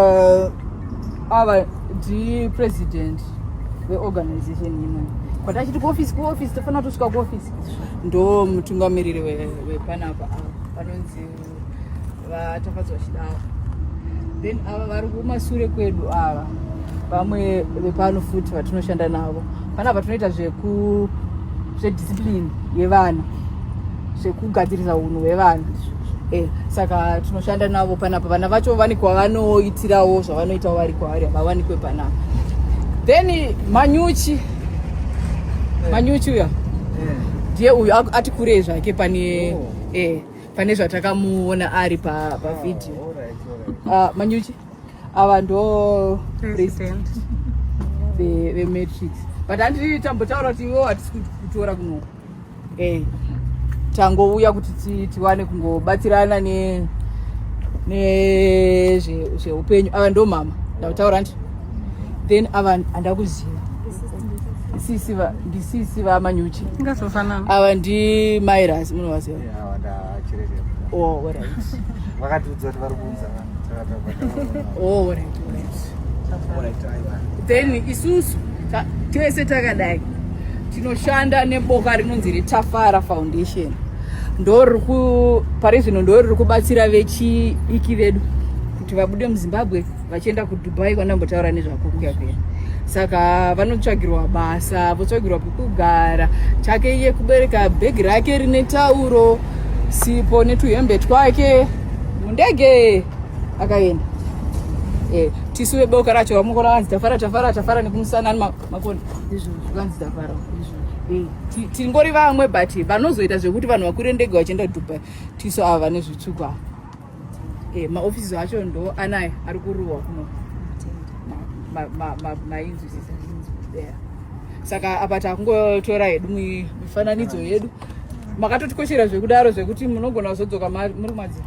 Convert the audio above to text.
uh, ava ndi president weorganization imwe kwatachiti kuofisi kuofisi tofanira kutosvika kuofisi ndo mutungamiriri wepanapa ava vanonzi vatafadzwa chidawa then ava vari kumasure kwedu ava vamwe vepano futi vatinoshanda navo panapa tinoita zveku zvediscipline yevana zvekugadzirisa unhu hwevana Eh, saka tinoshanda navo panapa vana vacho vani kwavanoitirawo zvavanoitawo vari kwavari havawanikwe panapa then manyuchi eh. manyuchi uya eh. ndiye uyu ati kurei zvake pane oh. eh, pane zvatakamuona ari pavhidhiyo pa oh, ah, ah, manyuchi ava ndo president vematrix but handiti tambotaura kuti iwo hatisi kutora kunoku eh, tangouya kuti tiwane kungobatsirana ne nezveupenyu ava ndo mama ndakutaura ndi then ava andakuziva sisi va ndisisi va manyuchi ngasofanana ava ndi mairas munovaziva oh right vakatiudza kuti vari kuunza oh right right then isusu tese takadai tinoshanda neboka rinonzi retafara foundation ndoriri pari zvino ndoriri kubatsira vechiiki vedu kuti vabude muzimbabwe vachienda kudubai kwanambotaura nezvakukuya kuya saka vanotsvagirwa basa votsvagirwa pekugara chake iye kubereka bhegi rake rine tauro sipo netuhembe twake mundege akaenda eh, tisu veboka racho vamukona vanzi tafara tafara tafara nekumusana makona vanzi tafara eh, tingori vamwe but vanozoita zvekuti vanhu vakwire ndege vachienda dubai tisu ava vane zvitsvuku ava eh, maofisi acho ndo anaya ari kuruwa kuno mainzwisisa saka apa takungotora hedu mifananidzo yedu makatotikoshera zvekudaro zvekuti munogona kuzodzoka muri madziro